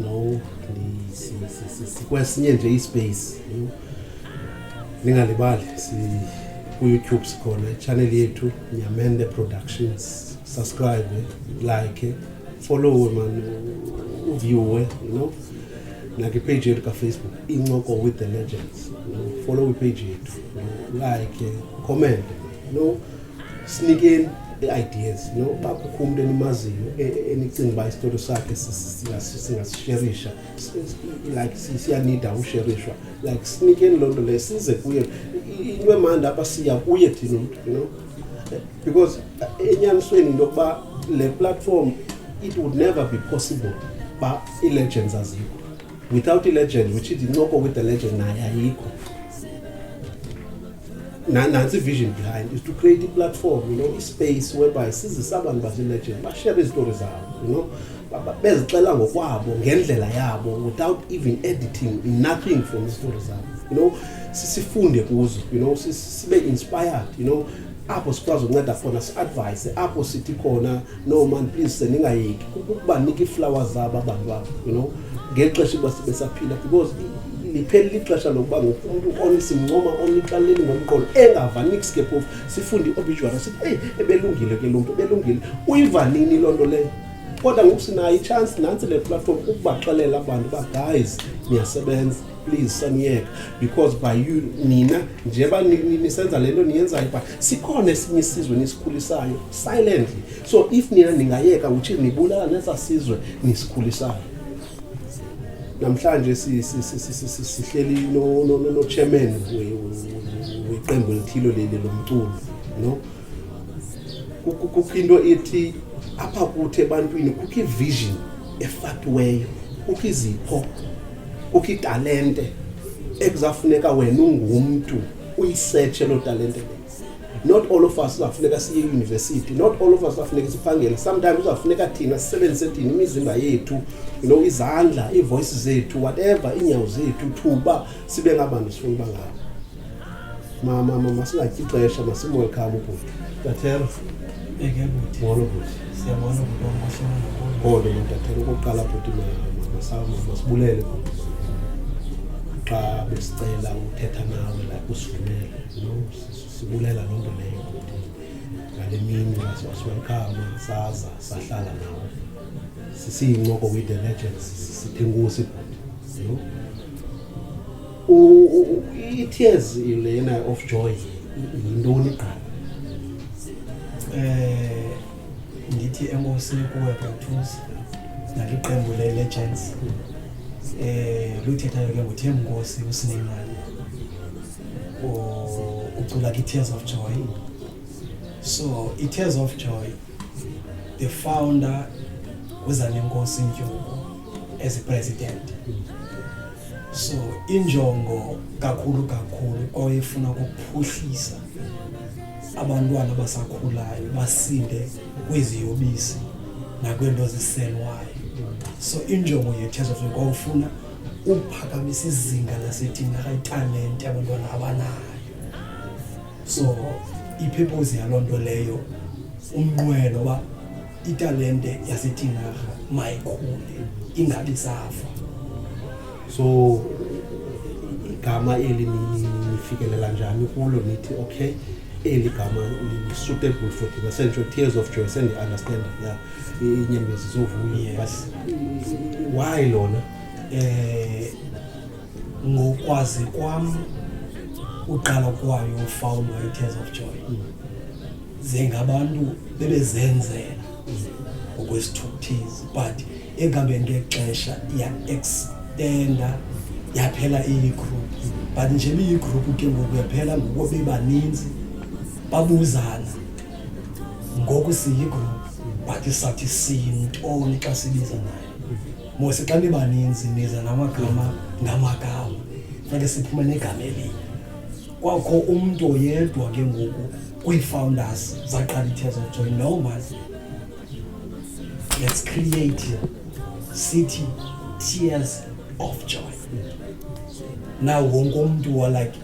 no sikwesinye nje ispace ningalibali kuyoutube sikhona itshanel yethu nyamende productions subscribe like followe man uviewe you know nakipage yethu kafacebook incoko with the legends follow ipage yethu like comment no sinikeni i-ideas no uba kukho umntu enimaziyo e, e, enicinga uba isitori sakhe singasisherisha like siyanida usherishwa like sinikeni loo nto leyo size kuye into emandi apha siya kuye thina umntu you know because enyanisweni into yokuba le platform it would never be possible uba ii-legends azikho without ilegend which is incoko with the legend naye ayikho nansi vision behind is to create a platform you know space whereby sizisa abantu bazilegend bashare izitori zabo you know bezixela ngokwabo ngendlela yabo without even editing nothing from izitori zabo you know sisifunde kuzo you know sibe inspired you know apho sikwazi ukunceda khona si-advise apho sithi khona no man please sendingayeki ukubanika iiflawa zabo abantu abo you know ngeli xesha uba sibesaphila because lipheli lixesha lokuba ngoku umntu on simncoma onicaleni ngomqolo engava nix ke phofu sifunde i-obituary sithi eyi ebelungile ke lo mntu ebelungile uyiva nini loo nto leyo kodwa ngoku sinayo itshansi nantsi le platform ukubaxelela abantu uba guys niyasebenza please saniyeka because by you nina njeba nisenza le nto niyenzayo but sikhona esinye isizwe nisikhulisayo silently so if nina ningayeka uthi nibulala nesa sizwe nisikhulisayo namhlanje sihleli nochairman weqembu elithilo leli lomculo no kukho into ethi apha kuthi ebantwini kukho ivision efakiweyo kukho izipho kukho italente ekuzafuneka wena ungumntu uyisetshe loo talente le not all of us uzawufuneka siye eyunivesithi not all of us uzawufuneka siphangele sometimes uzawufuneka thina sisebenzise thina imizimba yethu you know izandla iivoyisi zethu whatever iinyawo zethu thuba sibe ngabantu sifuna uba ngabo masingatyi ixesha masimwelkham ubhuti Tathero. Eke buti. Molo buti. Siyabona ukuthi wamashona kakhulu. Kodwa mina tathero ukuqala buti mama sawu mama sibulele buti. Xa besicela uthetha nawe la usivumele. No sibulela loo nto leyo buti. Ngale mini wasiwelkama saza sahlala nawe. Sisiyincoko with the legends sithengusi buti. No? i-tears lena of joy yintoni qala eh ndithi enkosini kuwe brathusi naliqembu le-legends eh luthethayo ke nguthe mnkosi usinemali ucula kwi-tears of joy so i-tears of joy the founder uzanenkosi ntyuku as a president so injongo kakhulu kakhulu kwayefuna ukuphuhlisa abantwana abasakhulayo basinde kwiziyobisi nakweento ziselwayo so injongo yethezofuna kwawufuna ukuphakamisa izinga lasethina italente abantwana abanayo so iphepozi yaloo nto leyo umnqwelo uba italente yasetinarha mayikhule ingabi safa so igama eli nifikelela njani kulo nithi okay eli gama li-suitable for thina sentsho tears of joy sendi-understand ya inyembezi zovuyo but why lona um ngokwazi kwam uqala kwayo ufawulo i-tears of joy zingabantu bebezenzela ngokwesithukuthizi but ekuhambeni ngexesha ya-extenda yaphela iyi-group but nje biyi-group ke ngoku yaphela ngoku bebaninzi babuzana ngoku siyi-group but sathi siyintoni xa sibiza nayo Mose xa nibaninzi niza namagama ngamagama funeke siphume negama elinye kwakho umntu oyedwa ke ngoku kwii-founders zaqala i-tears of joy no man let's create city tears of joy now wonke umntu wa like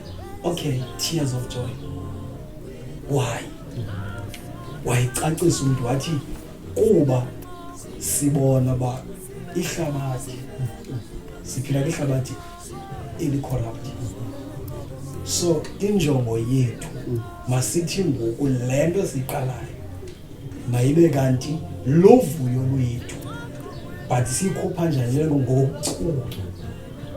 okay tears of joy why wayicacisa umntu wathi kuba sibona uba ihlabathi siphila kwihlabathi elicorrupt so injongo yethu masithi ngoku le nto siyiqalayo mayibe kanti luvuyo lwethu but siyikhupha njani ngokucula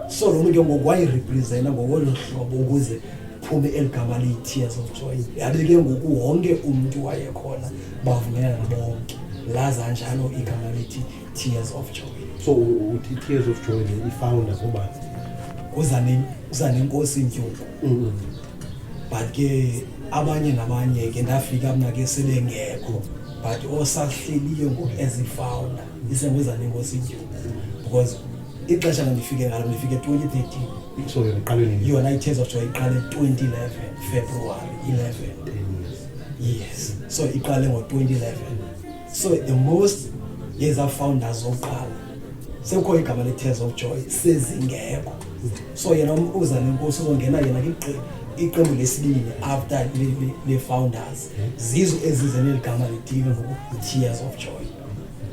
so lo mntu ke ngoku wayirepresenta ngokwelo hlobo ukuze kuphume eli gama liyi-tears of joy yabe ke ngoku wonke umntu wayekhona bavumelana bonke laza njalo igama lithi tears of joy so uthi tears of joy ifounder ngobani uzanenkosi ntyuku mm-hmm. but ke abanye nabanye ke ndafika mna ke sebengekho but osahleliyo ngoku ezifounder isenguzanenkosi ntyuku because ixesha landifike ngalo ndifike 2013 so yona iqale nini yona i-tears of joy iqale 2011 february 11 yes so iqale ngo-2011 so the most yezafounders zokuqala sekukho igama le-tears of joy sezingekho so yena uzana inkosi uzongena yena kigqi iqembu lesibili after le-founders zizo ezize neli gama litile ngoku-tears of joy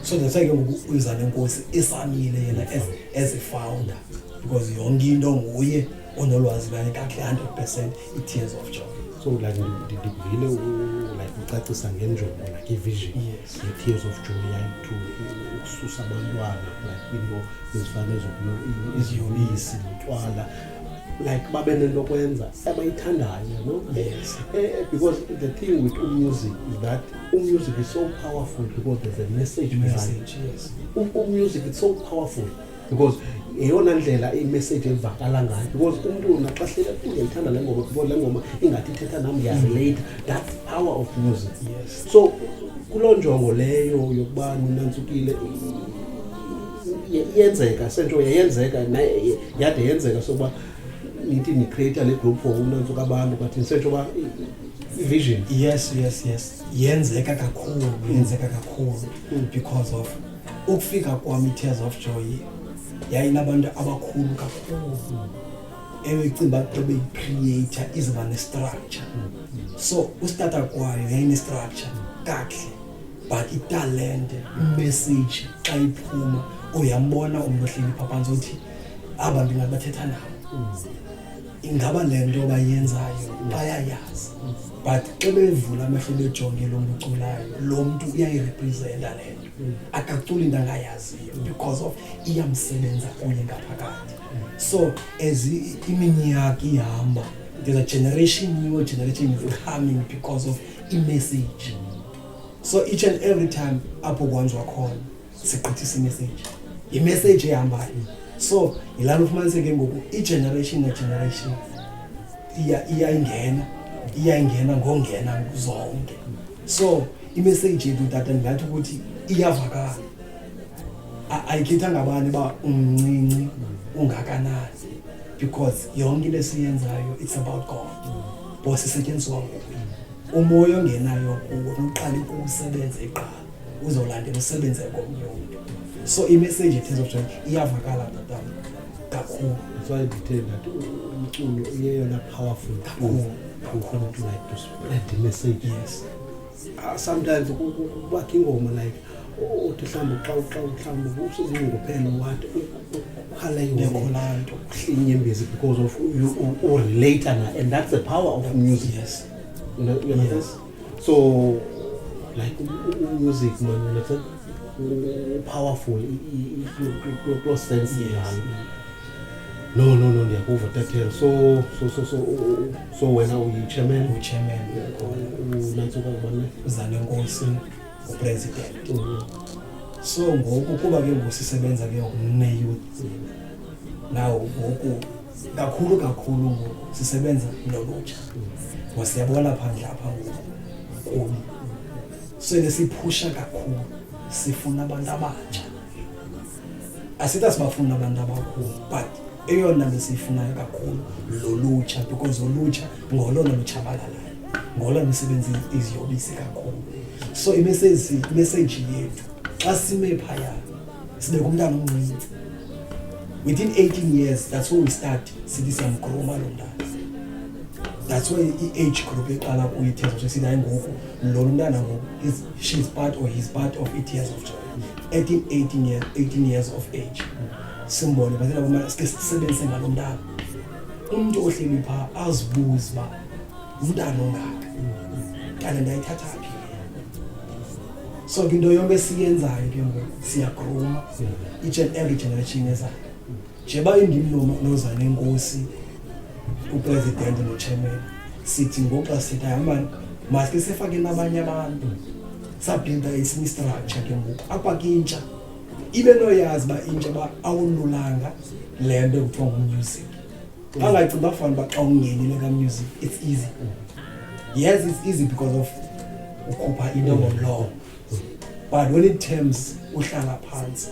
so that's why ke ngoku uyiza nenkosi esamile yena as, as a founder because yonke into nguye onolwazi lwayo kakhe 100 percent i-tears of joy so like ndikuvile like ucacisa ngenjongo like ivision ye-tears of joy yayi to ukususa abantwana like into ezifana eziyobisi notywala like babe nento kwenza abayithandayo no yes eh, eh, because the thing with umusic is that Umusic is so powerful because there's a message message yes umusic is so powerful because yeyona ndlela imessage evakala ngayo because umntu naxa hlele kuye ndithanda le ngoma because le ngoma ingathi ithetha nam ndiyazileyitha that's power of music yes so kuloo njongo leyo yokuba ninantsukile yenzeka sento yayenzeka yade yenzeka sokuba nithi nicreata le group for unantsuka abantu but ndisetsho uba vision yes yes yes yenzeka kakhulu yenzeka kakhulu hmm. because of ukufika kwam i-tears of joy yayinabantu abakhulu kakhulu ebecinga uba beyikhrieyitha iziba nestructure hmm. so usitata kwayo yayinestructure kakuhle but italente imessage xa iphuma uyambona umntu ohleli phaphantsi uthi aba ndingabathetha nabo ingaba le nto bayenzayo bayayazi but xa bevula amehlo bejonge lo mntu uculayo lo mntu uyayirepresenta le nto akaculi into angayaziyo because of iyamsebenza kunye ngaphakathi so as iminyaka ihamba there's a generation new generation is coming because of imessage so each and every time apho kwanjwa khona sigqithisa imeseji yimeseji ehambayo so yilana ufumaniseke ngoku igeneration negeneration iyayingena iyayingena ngongena zonke so imeseji yethu tata ndingathi ukuthi iyavakala ayikhethanga abani uba umncinci ungakanani because yonke into esiyenzayo it's about god bos isetyenziswa ngokuye umoya ongenayo kuwo noqale ukuwusebenza iqala uzolandela usebenze komnye umntu so imessage in terms of time iyavakala tatana kakhulu soye ndithe ndathi umculo uyeyona powerful kakhulu kakhulu to like to spread the message yes uh, sometimes kubakho ingoma like uthi mhlawumbi xa xa mhlawumbi usezingophela wathi ukhala ingolonto uhlinyembezi because of urelate na and that's the power of music yes. you know, you know yes. this so like music man ngithe powerful pro sense yalo no no no ndiyakuva tatel so so so so so wena uyi chairman uyi chairman unantsuka ubana uzale nkosi upresident so ngoku kuba ke ngoku sisebenza ke ngoku neyouth nawo ngoku kakhulu kakhulu ngoku sisebenza nolutsha ngoba siyabona phandle apha ngoku kubi so ke siphusha kakhulu sifuna abantu abatsha asithi asibafuni abantu abakhulu but eyona nto siyifunayo kakhulu lolutsha because olutsha ngolona lutshabalalayo ngolona misebenzi iziyobisi kakhulu so imeseji yethu xa sime phaya sibe kumntana omncinci within 18 years that's when we start sithi siyamgroma lo mntana that's why i-age group eqala kuyo i-tears of joy sithi hayi ngoku lo mntana ngoku she's part or he's part of i-tears of joy at 18 years, 18 years of age simbone basela kumele sike sisebenzise ngalo mntana umntu ohleli phaa azibuze uba umntana ongaka kanti ndayithatha phi so ke into yonke esiyenzayo ke ngoku siyagruma each and every generation ezayo njeba indimnoma nozane inkosi upresident nochairman sithi ngoxa sithi ayamani maske sifake nabanye abantu sabhinda esinye istructure ke ngoku apha kintsha ibe noyazi uba intsha uba awululanga le nto ekuthiwa ngumusic bangacinga uba fana uba xa ungenile kamusic it's easy yes it's easy because of ukhupha into ngomlomo but when it terms uhlala phantsi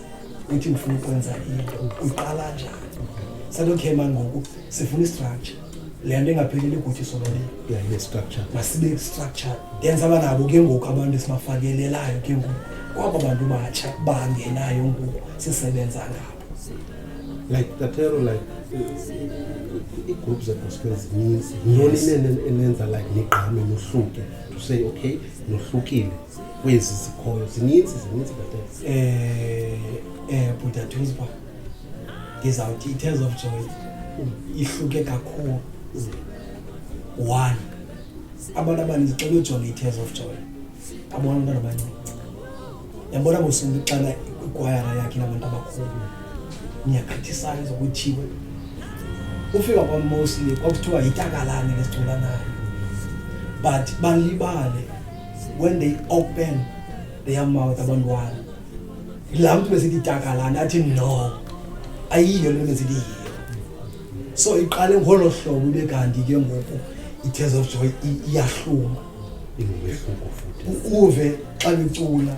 uthi ndifuna ukwenza into uqala njani sathi okay mani ngoku sifuna istructure le nto ingapheleli kuthi solole ibe structure masibe structure then saba nabo ke ngoku abantu esibafakelelayo ke ngoku kwabo bantu batsha bangenayo ngoku sisebenza ngabo like tatero like ii-groups zegospel zininzi yintoni inene enenza like nigqame nohluke to say okay nohlukile kwezi zikhoyo zininzi zininzi tatero um um bhutatuzba ndizawuthi i-tears of joy ihluke kakhulu one abantu abaninzi xa bejonga i-tears of joy abona abantwana abancinci yabona bosintu ixana ikwayara yakhe nabantu abakhulu niyagqithisayo zokuthiwe ufika kwamosli kwakuthiwa yitakalane lesicula nayo but balibale when they open their mouth abantwana yilaa mntu besithi takalana athi no ayiyo le nto besithi yiyo so iqale ngolo hlobo ibe kanti ke ngoku i-tears of joy iyahluma uve xa licula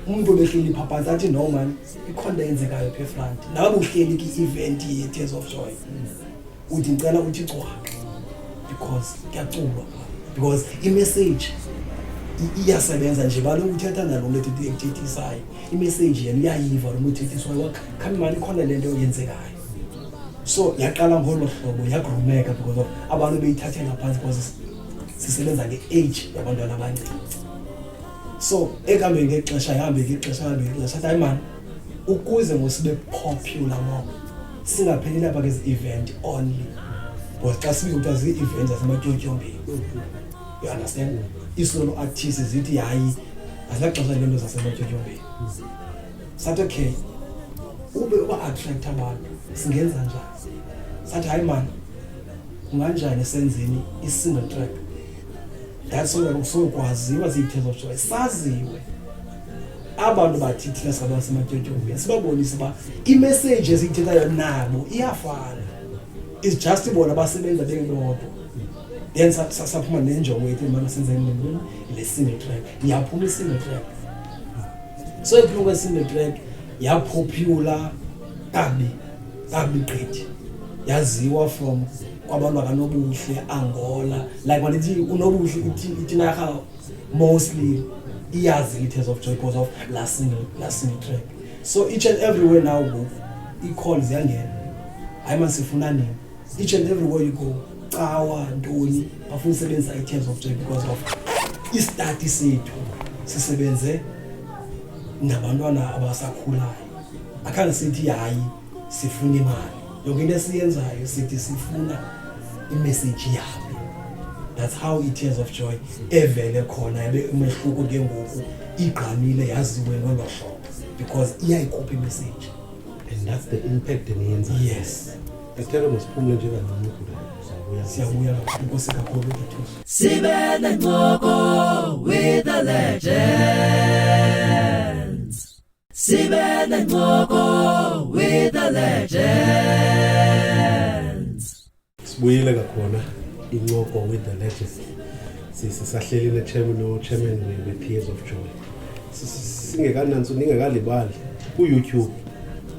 umntu obehleli phaphansi athi no mani ikhona into eyenzekayo pha efront nawe buhleli kwi-event ye-tears of joy uthi ndicela uthi cwaka because kuyaculwa because imessage iyasebenza nje balo uthetha nalo mntu ethethisayo imessage yena uyayiva lo mntu ethethiswayo wakhambi mani ikhona le nto yenzekayo so yaqala ngolo hlobo yagrumeka because of abantu beyithathela phantsi because sisebenza nge-age yabantwana abancinci so ekuhambeni ngexesha ihambe ngexesha ihambe ngexesha athi hayi mani ukuze ngosibe popular mob singapheli lapha ke zi-event only but xa sibiza kuthiwa zii-event zasematyotyombeyi you understand isolo artist zithi hayi azilaxesha lento zasematyotyombeyi sathi okay ube uba-attract abantu singenza njani sathi hayi mani kunganjani senzeni i-single track that's why kusuke kwaziwa ziithezo joy saziwe abantu bathi thina saba sematyotyombeni sibabonise uba imeseji esiyithethayo nabo iyafana is just bona basebenza bebodwa then saphuma nenjongo yethu mama senze nini le single track yaphuma i-single track so iphuma kwe-single track yaphopula kabi kabi gqithi yaziwa from kwabantu bakanobuhle angola like mandithi unobuhle itinarha mostly iyazi i-tears of joy because of la single la single track so each and everywhere now ngoku ii-call ziyangena hayi masifuna nini each and everywhere you go cawa ntoni bafuna usebenzisa i-tears of joy because of istati sethu sisebenze nabantwana abasakhulayo akhange sithi hayi sifuna imali yonke into esiyenzayo sithi sifuna imeseji yabo that's how i-tears of joy evele khona yabe umehluko ke ngoku igqamile yaziwe ngolo hlobo because iyayikhupha imeseji and that's the impact eniyenza yes esithelo masiphumle nje kancinci siyabuya kakhulu inkosi kakhulu ndithuso sibe nencoko with the legend Sibe nencoko with the legends. Sibuyile kakhona incoko with the legends. Sisahleli ne chairman no chairman we Tears of Joy. Singekananso ningekalibali ku YouTube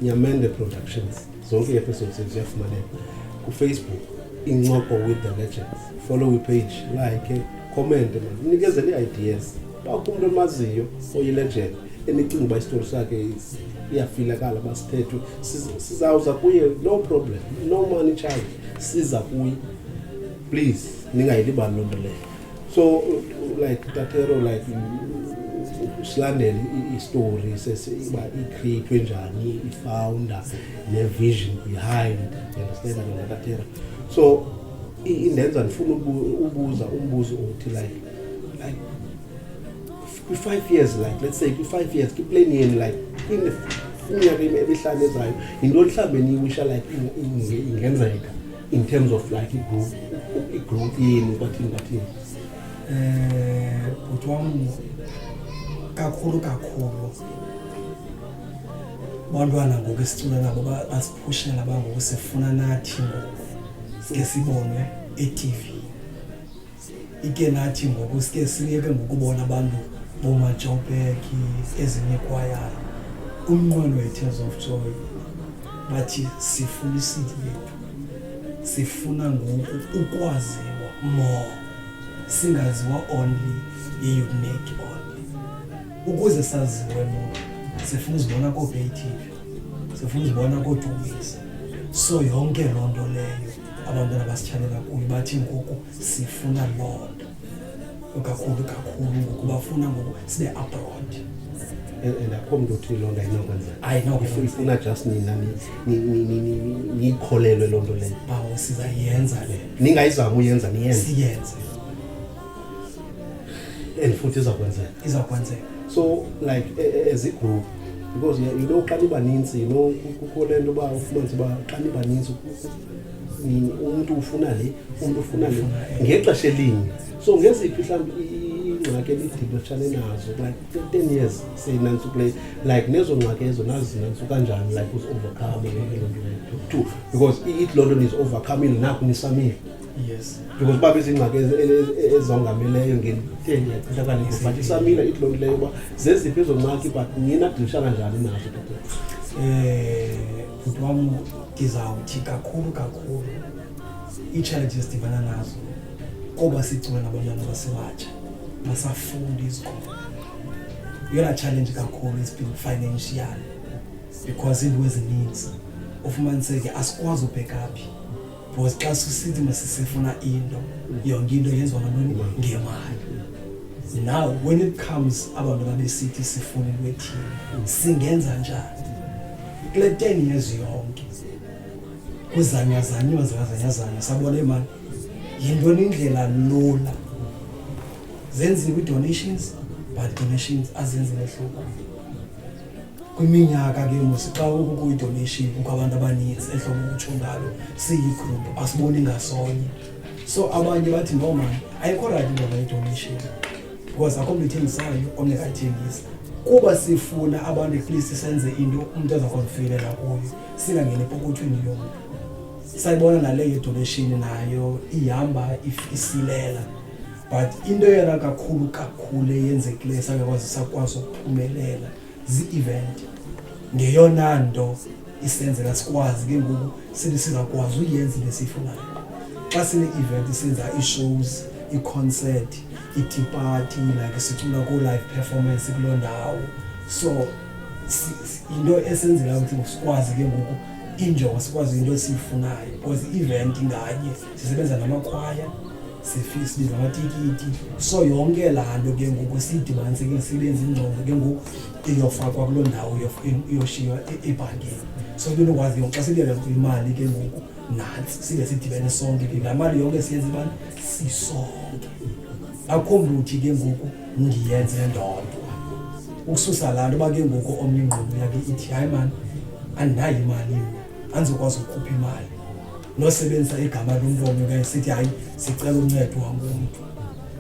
Nyamende Productions. Zonke episodes ziyafumaneka ku Facebook incoko with the legends. Follow we page, like, comment, nikezele ideas. bakho umntu omaziyo oyilegend enicinga uba isitori sakhe iyafilakala uba sithethwe sizawuza kuye no problem no money charge siza kuye please ningayilibani loo nto leyo so like tatero like silandele istory sesiba icreatwe njani ifounder nevision behind understand yona tatero so indenza ndifuna ubuza umbuzo othi like like kwi five years like let's say kwi five years kwi plan yenu like iminyaka emihlanu ezayo yintoni mhlawumbi eniyiwisha like ingenzeka in terms of like igrowth igrowth yenu kwathini kwathini eh bhuti wam kakhulu kakhulu bantwana ngoku esicula nabo basiphushela bangoku sifuna nathi ngoku sike sibonwe etv ike nathi ngoku sike siyeke ngokubona abantu boomajopeki ezinye ikwayara umnqweno wetears of joy bathi sifuna isidi yethu sifuna ngoku ukwaziwa more singaziwa only yiuniki only ukuze saziwe more sifuna uzibona koobaytv sifuna uzibona koodumisa so yonke loo nto leyo abantwana basitshalela kuyo bathi ngoku sifuna loo nto kakhulu kakhulu ngoku bafuna ngoku sibe abroad and akho mntu othi loo nto ayinokwenzekaifuna just nina niyikholelwe loo nto leyo bawo sizayenza le ningayizama uyenza niyenze siyenze and futhi izawukwenzeka izawukwenzeka so like e, e, as a group because you know xa nibaninzi you know kukho le nto uba ufumanise uba xa nibaninzi umntu ufuna le umntu ufuna le ngexesha elinye so ngeziphi mhlawumbi iingxaki ebidibetshane nazo like ten years seyinantsu kule like nezo ngxaki ezo nazinantsu kanjani like uzi-overcome to because it loo nto nizi-overcomile naku nisamile yes because uba bezingxaki ezongameleyo ngentenyaqithakale but isamila ithi loo nto leyo uba zeziphi ezo ngxaki but nina dilishana njani nazo um eh, bhuti wam ndizawuthi kakhulu kakhulu ii-challenges sidibana nazo koba sicula nabantwana basebatsha basafundi izikolo yona challenge kakhulu is being financial because iinto ezininzi ufumaniseke asikwazi ubhekaphi because xa sisithi masisifuna into yonke into yenziwa ngantoni ngemali now when it comes abantu babesithi sifuna into ethile singenza njani kule ten years yonke kuzanyazanyiwa zikazanyazanya sabona imali yintoni indlela lula zenziwe i-donations but donations azenzi mehluko kwiminyaka ke musi xa ukukuyi-donation kukho abantu abaninzi ehlobo ukutsho ngalo siyi-group asiboni ngasonye so abanye bathi no mani ayikho rayithi into ngayi-donation because akho mntu ithengisayo omnye kayithengisa kuba sifuna abantu ekuleast senze into umntu azakonfilela kuyo singangeni epokothweni yona sayibona naleyo idonation nayo ihamba isilela but into yena kakhulu kakhulu eyenzekileyo esangakwazi sakwazi ukuphumelela zii-event ngeyona nto isenzeka sikwazi ke ngoku sithi sizakwazi uyenza into esiyifunayo xa sine-event senza ii-shows ii-concert i-tea party like sicula koo-live performance kuloo ndawo so yinto esenzeka ukuthi sikwazi ke ngoku injongo sikwazi into esiyifunayo because i-event nganye sisebenza namakhwaya sifisbi zamatikiti so yonke laa nto ke ngoku siyidibanise ke sibenza ingcobo ke ngoku iyofakwa kuloo ndawo iyoshiywa e-, e-, ebhankini so ke nokwazi yonke xa sibeka imali ke ngoku nantsi sibe sidibene sonke ke laa mali yonke siyenza imali sisonke akho mntu uthi ke ngoku ndiyenze ndodwa ukususa laa nto uba ke ngoku omnye ingqondo yakhe ithi hayi mani andinayo imali mna andizokwazi ukukhupha imali nosebenzisa igama lomntu omnye esithi hayi sicela uncedo wangomntu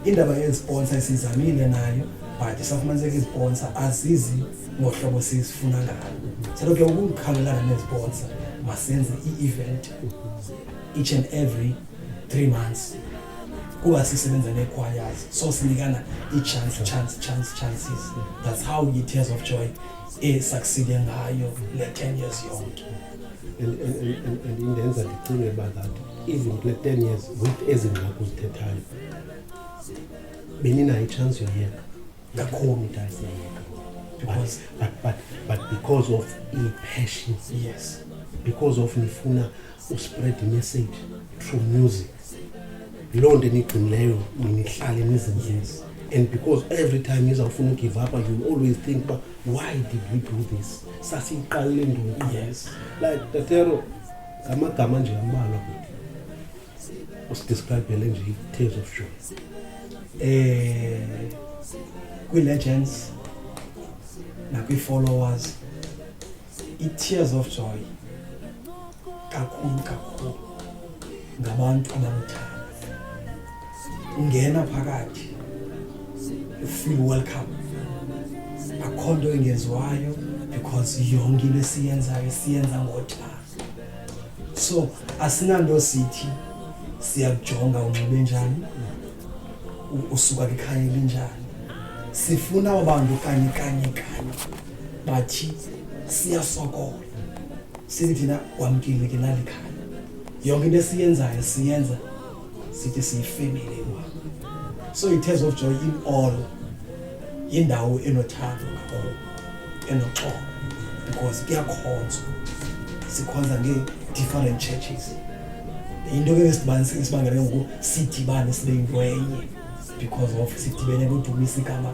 indaba yeziponsa isizamile nayo but safumaniseka iziponsa azizi ngohlobo sizifuna ngalo salo ke ukukhangelana neziponsa masenze i-event each and every three months kuba sisebenza neechoirs so sinikana ii-chance chance chance chances that's how i-tears of joy esuccide ngayo le ten years yonke and, and, and, and indenza ndicinge uba that even kule ten years with ezi ngxaki uzithethayo beninayo itshansi yoyeka kakhulu into ayiseyeka but, but, but, but because of i-passion yes because of nifuna uspread imessage through music yiloo nto enigcinileyo nihlale nizinzile and because every time nizawufuna ugive up you always think uba why did we do this sasiyiqalele ndoqi yes. like tatero ngamagama nje ambalwa kuthi usidescribele nje i-tales of joy eh kwi-legends nakwi-followers I-tears of joy kakhulu kakhulu ngabantu abamthanda ungena phakathi you feel welcome akho nto engenziwayo because yonke into esiyenzayo siyenza ngothando so asinanto sithi siyakujonga unxibe njani usuka kwikhaya elinjani sifuna abantu kanye kanye kanye bathi siyasokola sithi thina wamkile ke lali khaya yonke into esiyenzayo siyenza sithi siyifemile wa so it has of joy in all yindawo enothando kakhulu enoxolo because kuyakhonzwa sikhonza ngee-different churches yinto ke esibangele ngoku sidibane sibe yinto enye because of sidibene kudumisa igama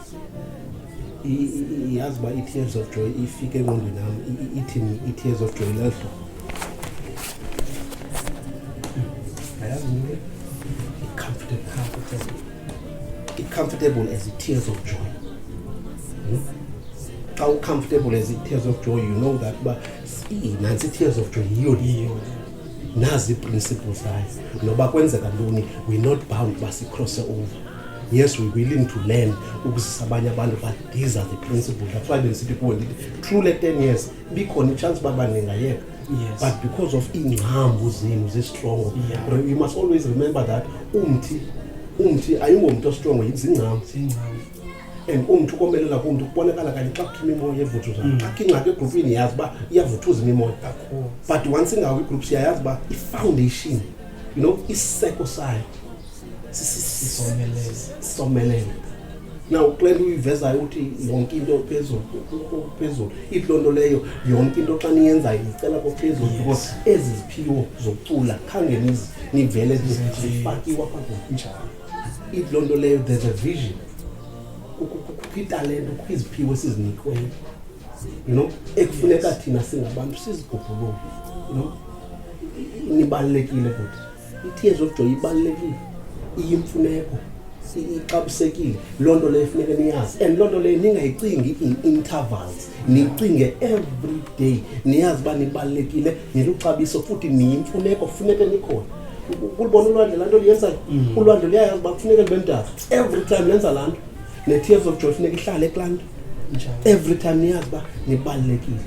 yazi uba i-tears of joy ifike engqondweni yam ithini i-tears of joy lehlo ayazi mntu i-comfortable i-comfortable as i-tears of joy hmm? xa u-comfortable as i-tears of joy you know that uba nantsi i-tears of joy yiyo liyo nazi iprinciple zayo noba kwenzeka ntoni we're not bound uba sicrosse over yes we're willing to learn ukuzisa abanye abantu but these are the principles that's why bendisithi kuwe ndithi through le ten years bikhona itshansi uba baningayeka Yes. but because of iingcambu zenu zistrongo yeah. you must always remember that umthi umthi ayingomntu ostrongo yizingcambu and umntu ukomelela kumntu kubonakala kanye xa kuthuma imoya evuthu zam mm. akho ingxaki egrupini yazi uba iyavuthuza imimoya but once ingawo igroup siyayazi uba ifoundation you know isiseko sayo sisomelele na kule nto uyivezayo uthi yonke into phezulu phezulu ithi loo nto leyo yonke into xa niyenzayo ndicela kophezulu because ezi ziphiwo zokucula khange nivele zifakiwa apha kunjalo ithi loo nto leyo there's a vision kukho italente kukho iziphiwo esizinikweyo you know ekufuneka thina singabantu sizigubhulule you know nibalulekile kuthi I-tears of joy ibalulekile iyimfuneko ixabisekile loo nto leyo funeke niyazi and loo nto leyo ningayicingi in intervals nicinge every day niyazi uba nibalulekile niluxabiso futhi niyimfuneko funeke nikhona kulibona ulwandle laa nto liyenzayo mm. ulwandle luyayazi uba kufuneke libe mdaka every time lenza laa nto ne-tears of joy funeka ihlale kulaa nto every time niyazi uba nibalulekile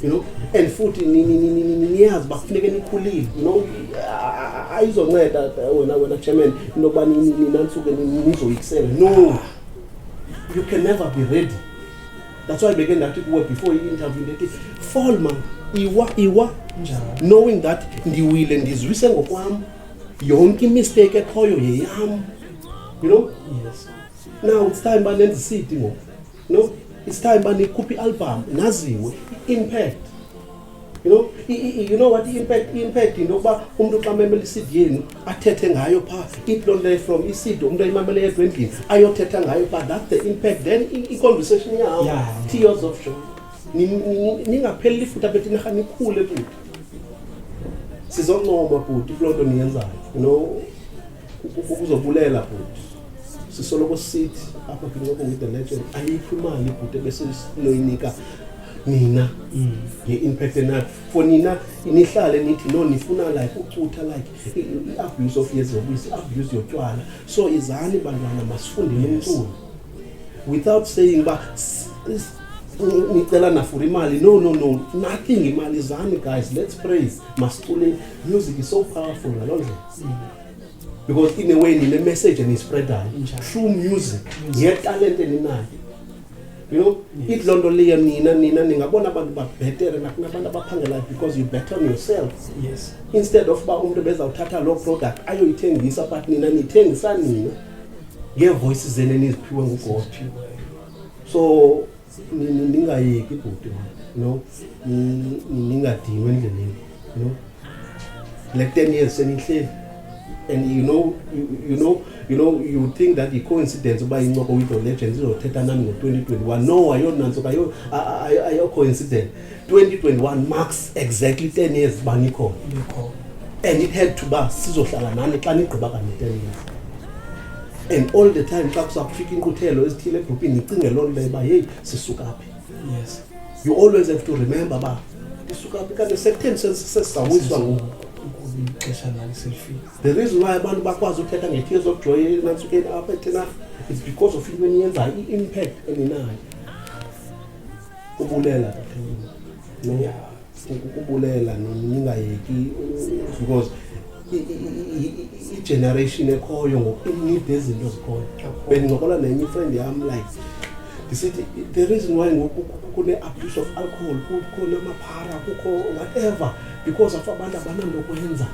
you know and futhi niyazi uba kufuneke nikhulile you know ayizonceda wena wena chairman into yokuba ninantsuke nizoyikisela no you can never be ready that's why beke ndathi kuwe before i-interview ndithi fall man iwa iwa knowing that ndiwile ndizwise ngokwam yonke imistake ekhoyo yeyam you know yes Now it's time banenza isidi ngoku. No, it's time banikhupha i-album naziwe impact. You know, i, i, you know what impact impact into yokuba umuntu xa memela i-CD yenu athethe ngayo pha iplonle from i-CD umuntu ayimamele yedwa endlini ayothetha ngayo pha that's the impact then i- i-conversation yawo Yeah. tears of joy Ni- ni- ningapheleli ifuta bethi nirha nikhule bhuti sizoncoma bhuti kuloo nto niyenzayo you know uzobulela bhuti sisoloko sithi apha kwincoko with the legend ayikho imali bhuti ebesinoyinika nina mm. ye-impact enayo for nina nihlale nithi no nifuna like ucutha like i-abuse of yezobisi i-abuse yotywala so izani bantwana masifundele umculo without saying uba nicelana for imali no no no nothing imali izani guys let's praise masicule music is so powerful ngaloo ndlela because in a way nile message enispredayo through music yetalente ninayo you know ithi loo nto leyo nina nina ningabona abantu babhetere nakunabantu abaphangelayo because you better on yourself yes. instead of uba umntu bezawuthatha loo product ayoyithengisa but nina nithengisa nina ngeevoices zene niziphiwe ngugod so ndingayeki ibhuti no ndingadinwe endleleni no le ten years senihleli and you know you, you know you know you think that yi-coincidence uba incoko with the legends izothetha nani ngo-2021 no ayonantso ayokho incident 2021 marks exactly 10 years uba nikhona and it had to uba sizohlala nani xa nigqiba kanye 10 years and all the time xa kuza kufika inkquthelo ezithile ebhupini nicinge loo nto uba yeyi sisuka phi yes you always have to remember uba ndisuka phi kanti sekutheni sesizawiswa ngoku ixesha lalo selifika the reason why abantu bakwazi uthetha nge-tears of joy enansukeni apha ethenarha is because of into eniyenzayo i-impact eninayo Ubulela ukubulela ningayeki because igeneration ekhoyo ngoku inide izinto zikhoyo bendincokola nenye ifriend yam like ndisithi the reason why ngoku kune-abuse of alcohol kukho namaphara kukho whatever because of abantu abananto kwenza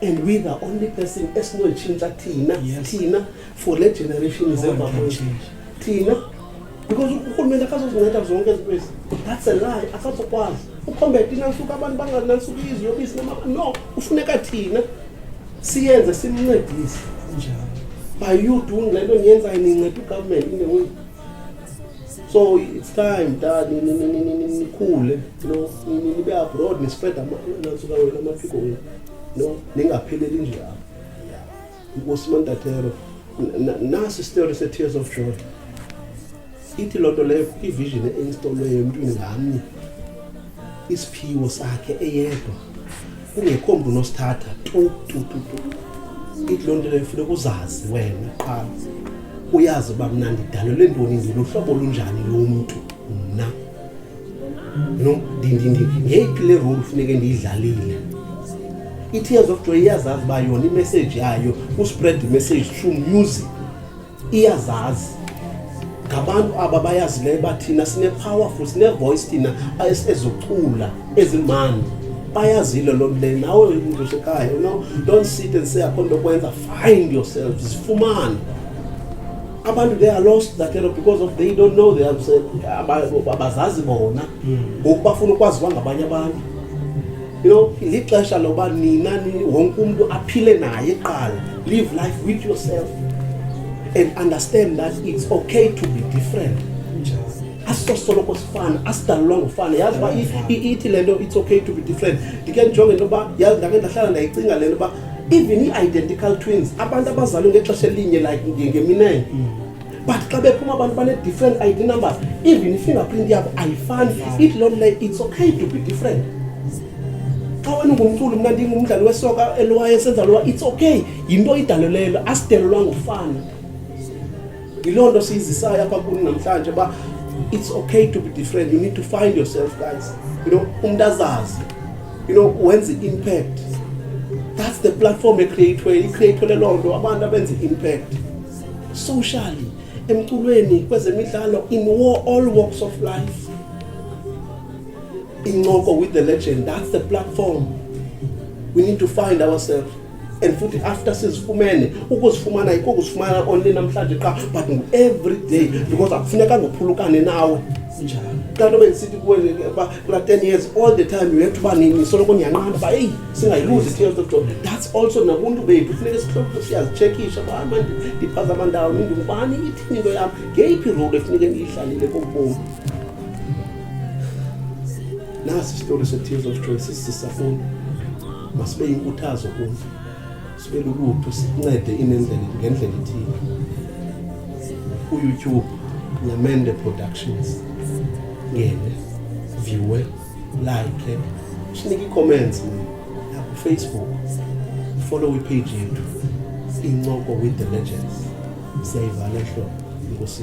and we the only person esinoyitshintsha thina thina for le generation zemva thina because urhulumente akazozinceda zonke izinto ezi that's a lie akazokwazi ukhombete inantsuku abantu banganantsuku iziyobisi no ufuneka thina siyenze simncedise njalo by you doing le nto niyenzayo ninceda ugovernment in the way so it's time da nikhule no nibe abroad nispread nansuka wena amaphiko wenu no ningapheleli nje apho Nkosi Mantatero, nasi isitori se-tears of joy ithi loo nto leyo ivision einstolweyo emntwini ngamnye isiphiwo sakhe eyedwa kungekho mntu unosithatha tu tu tu tu ithi loo nto leyo funeka uzazi wena qala uyazi uba mna ndidalelwe ntoni ndiluhlobo olunjani lomntu mna no ngeyiphi le role funeke ndiyidlalile i-tears of joy iyazazi uba yona imessage yayo uspread imessage through music iyazazi ngabantu aba bayazileyo uba thina sine-powerful sine-voice thina ezocula ezimandi bayazile loo nto leyo nawe umntu usekhaya no don't sit and say akho nto okwenza find yourself zifumane abantu they are lost that area because of they don't know they abazazi bona hmm. ngoku bafuna ukwazi uba ngabanye abantu you know lixesha loba nina wonke umntu aphile naye qala live life with yourself and understand that it's okay to be different asisosoloko sifana asidalulwa ngufana yazi uba ithi le nto it's okay to be different ndike ndijonge into yoba yazi ndake ndahlala ndayicinga le nto uba even ii-identical twins abantu abazalwe ngexesha elinye like ngeminene mm. but xa bephuma abantu bane-different id numbers even ifingerprint yabo ayifani it loo nto it's okay to be different xa wena ungumculo mna ndingumdlali wesoka elwaye senza lowa it's okay yinto idalelelo asidelelwa ngokufana yiloo nto siyizisayo apha kuni namhlanje uba it's okay to be different you need to find yourself guys you know umntu azazi you know wenze i-impact that's the platform ecreatwe icreatwele loo nto abantu abenze i-impact socially emculweni kwezemidlalo in war, all walks of life incoko with the legend that's the platform we need to find ourselves and futhi after sizifumene ukuzifumana ikokuzifumana only namhlanje qa but ngu-every day because akufuneka ngophulukane nawe kanti obe ndisithi kuwe uba kula ten years all the time you have to uba nini soloko ndiyanqanda uba eyi singayiluzi tears of joy that's also nabuntu bethu funeke sihloko siyazitshekisha uba mani ndiphaza amandawo nindingubani ithini into yam ngeyiphi role efuneke ndiyidlalile kobomi nasi isitori se-tears of joy sisisafuni masibe yinkuthazo kum sibe lulutho sincede inendlela ngendlela ethile uyoutube nemende productions ngene viewe like sinike ii-comments nakufacebook follow ipage yethu incoko with the legends siyayivala hlobo inkosi